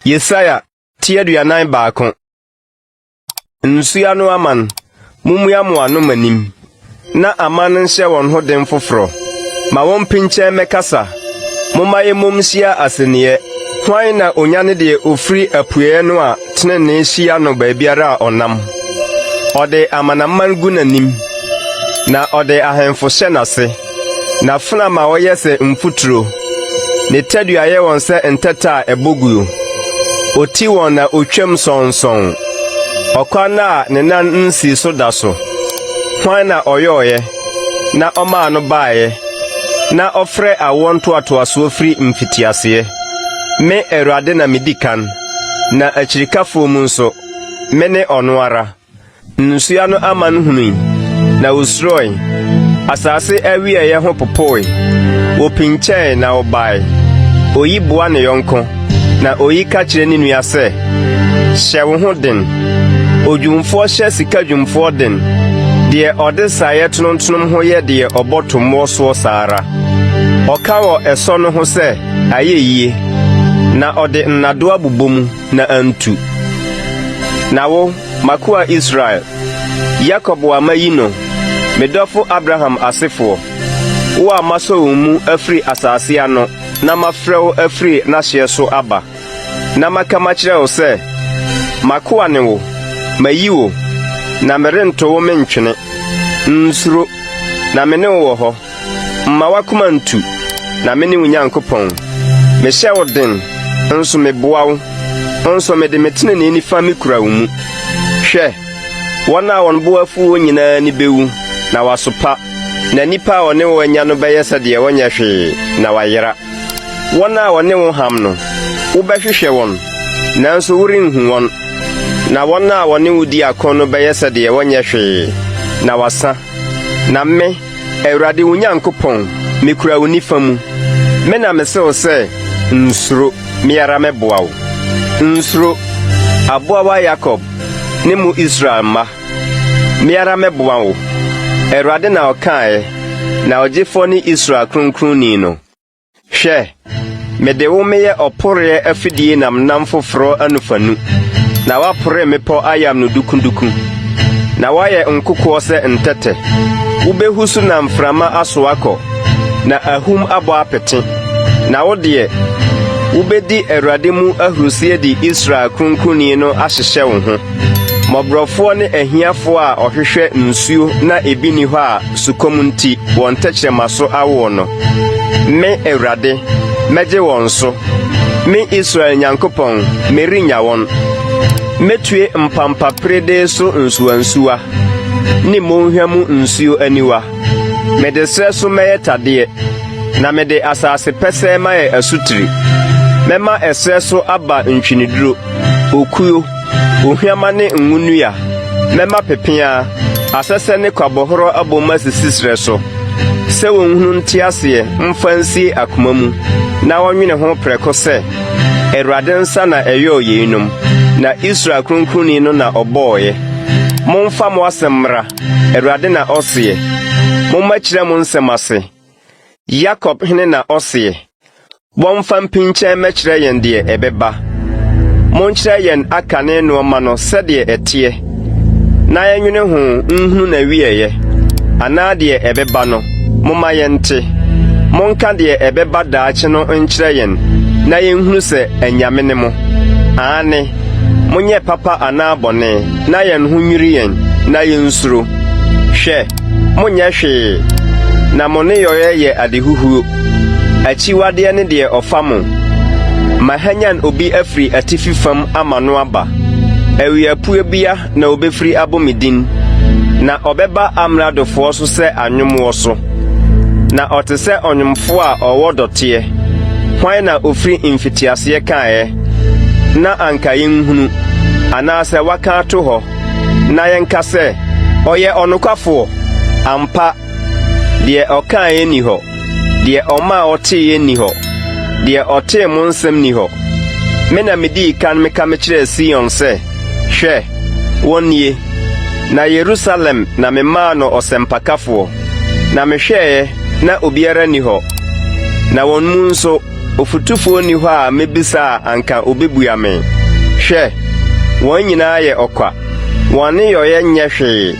Yesaia ti aduanan baako. Nsua no aman, mummua mo ano manim, na aman no nhyɛ wɔn ho den foforɔ. Ma wɔmpinkyɛn mmɛkasa, momma yɛmmom nhyia asenneɛ. Hwan na onya ne deɛ ofiri apueɛ no a Tenenee hyia no baabiara a ɔnam. Ɔde amanaman gu n'anim, na ɔde ahemfo hyɛ n'ase. N'afena ma wɔyɛ sɛ mfuturo, ne tadua yɛ wɔn sɛ ntɛtɛ a ɛbɔ guo. Oti wɔn na otwam sɔnsɔn ɔkwan a ne nan nsii so da so. Hwan na ɔyɔeɛ na ɔmaa no baeɛ, na ɔfrɛ awoɔ ntoatoasoɔ firi mfitiaseɛ? Me Awurade na medi kan. Na akyirikafo mu nso, mene ɔno ara. Nnosoa no aman hunui, na wosurɔe. Asase awiɛeɛ ho popoe. Wɔpinkyɛe na wɔbae. Oyi boa ne yɔnko, na oyi ka kyerɛ ne nua sɛ, Hyɛ wo ho den! Odwumfoɔ hyɛ sika dwumfoɔ den, deɛ ɔde saeɛ tonontonom ho yɛ deɛ ɔbɔ tommoɔ soɔ saa ara. Ɔka wɔ ɛsɔ no ho sɛ, Ayɛ yie, na ɔde nnadoa bobɔ mu na antu. Na wo, m'akoa Israel, Yakob a mayi no, me dɔfo Abraham asefoɔ, wo a masɔ wo mu afiri asase ano na mafrɛ wo afiri n'ahyeɛ so aba, na maka makyerɛ wo sɛ, 'M'akoa ne wo, mayi wo, na merento wo mentwene. Nsuro, na me ne wo wɔ hɔ. Mma w'akoma ntu, na mene wo Nyankopɔn. Mehyɛ wo den, nso meboa wo, nso mede me tenenee nifa mikura wo mu. Hwɛ! Wɔn a wɔn bo afuw wɔn nyinaa ani bewu, na wɔasopa, na nnipa a wɔne wo anya no bɛyɛ sɛ deɛ wɔnyɛ hwee, na wɔayera. Wɔn a wɔne wo ham no, wobɛhwehwɛ wɔn, nanso worenhu wɔn, na wɔn a wɔne wo di ako no bɛyɛ sɛ deɛ wɔnyɛ hwee, na wɔasa. Na me, Awurade wo Nyankopɔn, mikura wo nifa mu. Me na mise wo sɛ, Nsuro, me ara mɛboa wo. Nsuro, aboawa Yakob ne mo Israel mma, me ara mɛboa wo, Awurade na ɔkaeɛ, na Ɔgyefoɔ ne Israel Kronkronni no. Hwɛ, mede wo meyɛ ɔporoeɛ afidie namnam foforɔ anofanu, na woapore mmepɔ ayam no dukuduku, na woayɛ nkokoɔ sɛ ntɛtɛ. Wobɛhu so na mframa aso akɔ, na ahum abɔ apete. Na wo deɛ, wobɛdi Awurade mu ahurisie de Israel Kronkronni no ahyehyɛ wo ho, mmɔborɔfoɔ ne ahiafoɔ a ɔhwehwɛ nsuo na ebi nni hɔ a sukɔm nti wɔn tɛkyerɛma so awo no. Me, Awurade, mɛgye wɔn so. Me Israel Nyankopɔn, merennya wɔn. Metue mpampaperedee so nsuwansuwa ne monhwa mu nsuo aniwa. Mede serɛ so mɛyɛ tadeɛ, na mede asase pɛsɛɛ mayɛ asutire. Mɛma ɛserɛ so aba ntweneduro, okuo, Ohuamma ne ngo nnua, mɛma pepeaa, asɛsɛ ne kwabɔhɔrɔ abom asisi serɛ so, sɛ wɔnhunu nte aseɛ mfa nsie akoma mu na wɔnwene ho prɛko sɛ, Awurade nsa na ɛyɔɔ yeinom, na Israel Kronkronni no na ɔbɔeɛ. Momfa mo asɛm mmra, Awurade na ɔseɛ. Momma kyerɛ mo nsɛm ase, Yakob Hene na ɔseɛ. Wɔmfa mpinkyɛn mmɛkyerɛ yɛn deɛ ɛbɛba. Monkyerɛ yɛn akane nnoɔma no sɛdeɛ ɛteɛ, na yɛnnwene ho nhunu n'awieeɛ, anaa deɛ ɛbɛba no, momma yɛnte. Monka deɛ ɛbɛba daakye no nkyerɛ yɛn na yɛnhunu sɛ anyame ne mo. Aane, monyɛ papa anaa bɔne, na yɛn ho nnwiri yɛn, na yɛnsuro. Hwɛ! Monnyɛ hwee, na mo nneyɔeɛ yɛ adehuhuo. Akyiwadeɛ ne deɛ ɔfa mo. Mahwanyan obi afiri atifi fam ama no aba, Awiapuebea na ɔbɛfiri abɔ me din, Na ɔbɛba amradofoɔ so sɛ anwommoɔ so. Na ɔte sɛ ɔnwomfoɔ a ɔwɔ dɔteɛ, Hwan na ɔfiri mfitiaseɛ kaeɛ, na anka yɛnhunu, Anaasɛ waka ato hɔ? Na yɛnka sɛ, 'Ɔyɛ ɔnokwafoɔ. Ampa, deɛ ɔkaeɛ nni hɔ, deɛ ɔma a ɔteeɛ nni hɔ, deɛ ɔtee mo nsɛm nni hɔ. Me na medii kan meka mekyerɛɛ Sion sɛ, 'Hwɛ, wɔn nie! Na Yerusalem na memaa no ɔsɛmpakafoɔ, na mehwɛeɛ na obiara nni hɔ, na wɔn mu nso Ɔfotufoɔ nni hɔ a mɛbisa a anka ɔbɛbua me. Hwɛ! Wɔn nyinaa yɛ ɔkwa, wɔn aneyɔeɛ nyɛ hwee,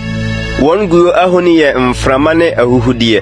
wɔn guo ahoni yɛ mframa ne ahuhudeɛ.